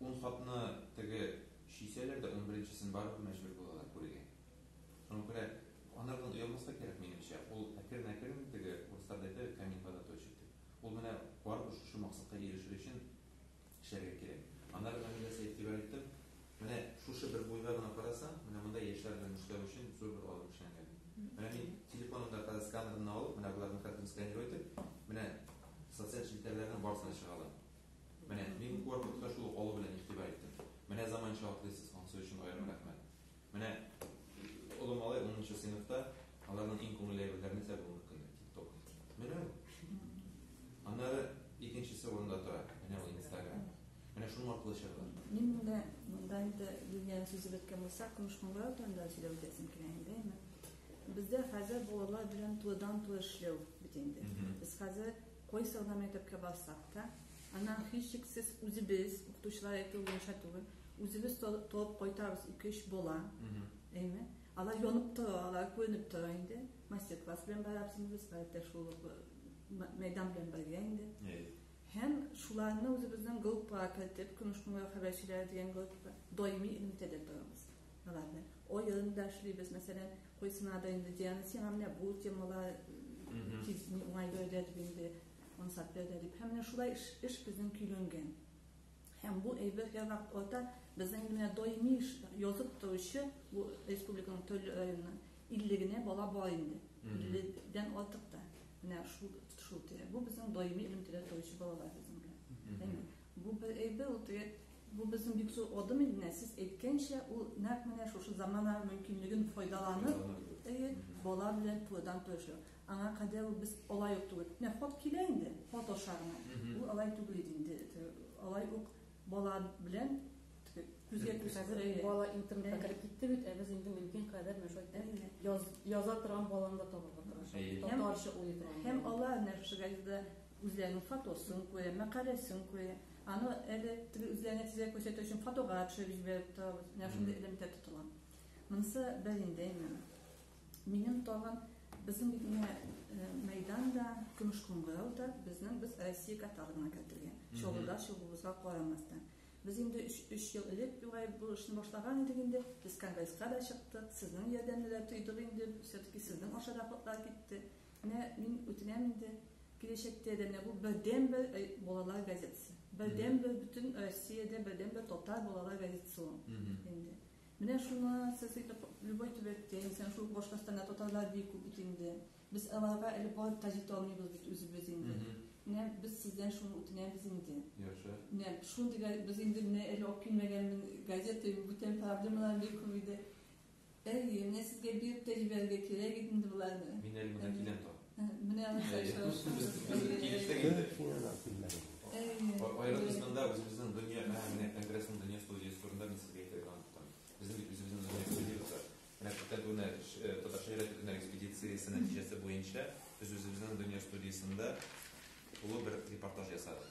Ун хатны теге чөйсәләр дә унберенчесен барыбер мәҗбүр булалар күрергә. Шуңа күрә анардан оялмаска кирәк, минемчә. Ул әкрен-әкрен теге урысларда әйтәбез, камень вода точит, дип. Ул менә барыбер шушы максатка ирешер өчен эшләргә кирәк. Аннары менә мин дә сиңа игътибар иттем, менә шушы бер буйга гына карасаң, менә монда яшьләр белән эшләү өчен зур бер алым эшләнгән. Менә мин телефонымда хәзер сканерымны алып, менә боларның картинкасын сканировать итеп, менә социаль челтәрләрнең барысына чыга алам. Менә мин корпуска шул ук алу белән игътибар иттем. Менә заманча атлыйсыз, анысы өчен аерым рәхмәт. Менә олы малай 10 нчы сыйныфта, аларның иң күңелле әйберләре нәрсә булуы мөмкин дип тик-ток. Менә ул. Аннары икенчесе урында тора. Менә ул инстаграм. Менә шуның аркылы чыгыла. Мин монда, монда инде Юлиан сүзе беткән булса, көмеш кыңгырау турында сөйләп үтәсем килә инде, әйме. Бездә хәзер балалар белән тулыдан-тулы эшләү бит инде. Без хәзер Кайсы гына мәктәпкә барсак та, аннан һичшиксез үзебез, укытучылар әйтүе буенча түгел, үзебез табып кайтабыз ике-өч бала. Әйме? Алар янып тора, алар күренеп тора инде. Мастер-класс белән барабыз инде без, гадәттә шул мәйдан белән бергә инде. Һәм шуларны үзебезнең группага кертеп, Көмеш күңел хәбәрчеләре дигән группа, даими элемтәдә торабыз. аларны. Ойын да эшлибез, мәсәлән, куйсына да инде Диана, сиңа менә бу темала тиз уңай бәйдә дип инде, ансат бәйдә дип. Һәм менә шулай эш, эш безнең көйләнгән. Һәм бу әйбер һәр вакыт ата, безнең инде менә даими эш, язып торучы, бу республиканың төрле районының 50 генә бала бар инде. 50-дән артык та. Менә шул, шул тирә. Бу безнең даими элемтәдә торучы балалар безнең белән. Бу бер әйбер ул теге бу безнең бик зур адым инде менә сез әйткәнчә ул нәкъ менә шушы замана мөмкинлеген файдаланып әйе бала белән турыдан туры эшләү аңа кадәр ул без алай ук түгел менә хат килә инде хат аша гына ул алай түгел иде инде алай ук бала белән күзгә күз хәзер әйе бала интернетка кереп китте бит ә без инде мөмкин кадәр менә шулай яза торган баланы да табырга тырышабыз татарча уйлый торган һәм алар нәфшегә дә Үзләренең фотосын күрә, мәкаләсен күрә. Аны әле теге үзләренә тизрәк күрсәтер өчен фотога төшереп җибәреп торабыз. Менә шундый элемтә тотыла. Монысы бер инде әйберем. Минем тагын безнең бит менә э, мәйдан да, көмеш кыңгырау да безнең без Россия каталогына кертелгән. Чаллыда чыгуыбызга карамастан. Без инде 3 ел элек югай бу эшне башлаган идек инде. Без конгресска да чыктык, сезнең ярдәмне дә тойдык инде. Все-таки сезнең аша да котлар китте. Менә мин үтенәм инде, киләчәктә дә менә бу бердәнбер балалар газетасы. Бердәнбер бөтен Россиядә бердәнбер татар балалар газетасы ул инде. Менә шуны сез итеп любой төбәктә, инсән шул Башкортстанда татарлар бик күп бит инде. Без аларга әле барып та җитә алмыйбыз бит үзебез инде. Менә без сездән шуны үтенәбез инде. Яхшы. Менә шундый без инде менә әле алып килмәгән газета бүтән проблемалар бик күп иде. Әйе, менә сезгә биреп тә җибәрергә кирәк иде инде боларны. Мин әле менә киләм тагын. Менә алар Аерылышында да үзебезнең дөнья, менә менә конгрессның дөнья студиясе турында мин сезгә әйтергә оныттым. Безнең бит үзебезнең дөнья студиясе. Менә күптән түгел татар шигъри төркеме экспедициясе нәтиҗәсе буенча без үзебезнең дөнья студиясендә тулы бер репортаж ясадык.